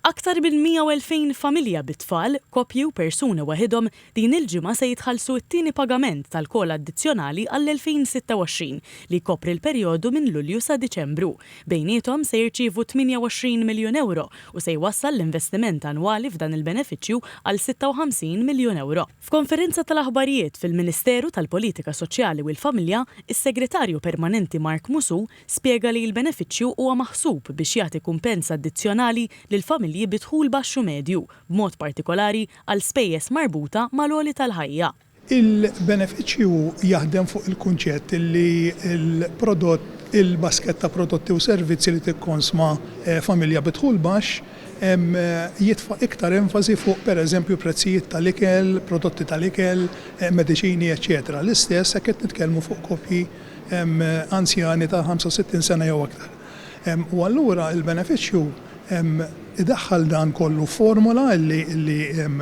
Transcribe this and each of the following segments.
Aktar minn 102,000 familja bi tfal, koppji u persuni waħidhom din il-ġimgħa se jitħallsu t-tieni pagament tal-COLA addizzjonali għall-2026, li jkopri l-perjodu minn Lulju sa Diċembru. Bejniethom se jirċievu 28 miljun ewro u se jwassal l-investiment annwali f'dan il-benefiċċju għal 56 miljun ewro. F'konferenza tal-aħbarijiet fil-Ministeru tal-Politika Soċjali u l-Familja, is-Segretarju Permanenti Mark Musù spjega li l-benefiċċju huwa maħsub biex jagħti kumpens addizzjonali lil familji bi dħul baxx u medju, b'mod partikolari għal spejjeż marbuta mal-għoli tal-ħajja. Il-benefiċċju jaħdem fuq il-kunċett li l-prodott, il-baskett ta' prodotti u servizzi li tikkonsma familja bi dħul baxx, jitfa' iktar enfasi fuq, pereżempju, prezzijiet tal-ikel, prodotti tal-ikel, mediċini, eċċetera l-istess jekk qed nitkellmu fuq koppji anzjani ta' 65 sena jew aktar. U allura il-benefiċċju idaħħal dan kollu f'formola li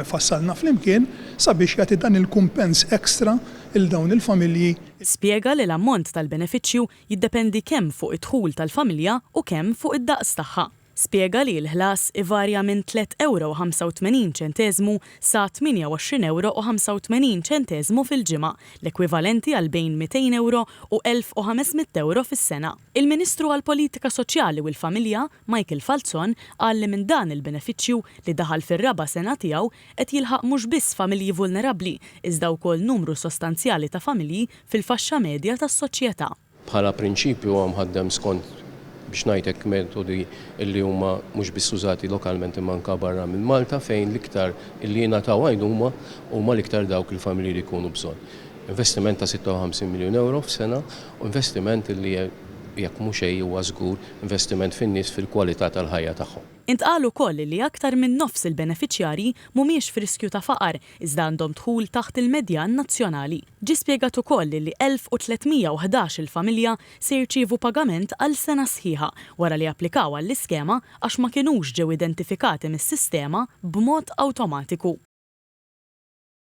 fassalna flimkien sabiex jagħti dan il-kumpens extra lil dawn il-familji. Spjega li l-ammont tal-benefiċċju jiddependi kemm fuq id-dħul tal-familja u kemm fuq id-daqs tagħha. spjega li l-ħlas ivarja minn tliet ewro u 85 ċenteżmu sa 28 ewro u 85 ċenteżmu fil-ġimgħa, l-ekwivalenti għal bejn 200 ewro u 1,500 ewro fis-sena. Il-Ministru għall-Politika Soċjali u l-Familja, Michael Falzon, qal li minn dan il-benefiċċju, li daħal fir-raba' sena tiegħu, qed jilħaq mhux biss familji vulnerabbli, iżda wkoll numru sostanzjali ta' familji fil-faxxa medja tas-soċjetà. Bħala prinċipju huwa mħaddem skont, biex ngħid hekk, metodi li huma mhux biss użati lokalment imma anke barra minn Malta fejn l-iktar li jingħataw għajnuma huma l-iktar dawk il-familji li jkunu bżonn. Investiment ta' 56 miljun ewro f'sena u investiment li jekk mhu xejn huwa żgur investiment fin-nies fil-kwalità tal-ħajja tagħhom. Intqal ukoll li aktar minn nofs il-benefiċjarji mhumiex f'riskju ta' faqar iżda għandhom dħul taħt il-medjan nazzjonali. Ġie spjegat ukoll li 1,311 il-familja se jirċievu pagament għal sena sħiħa wara li applikaw għall-iskema għax ma kinux ġew identifikati mis-sistema b'mod awtomatiku.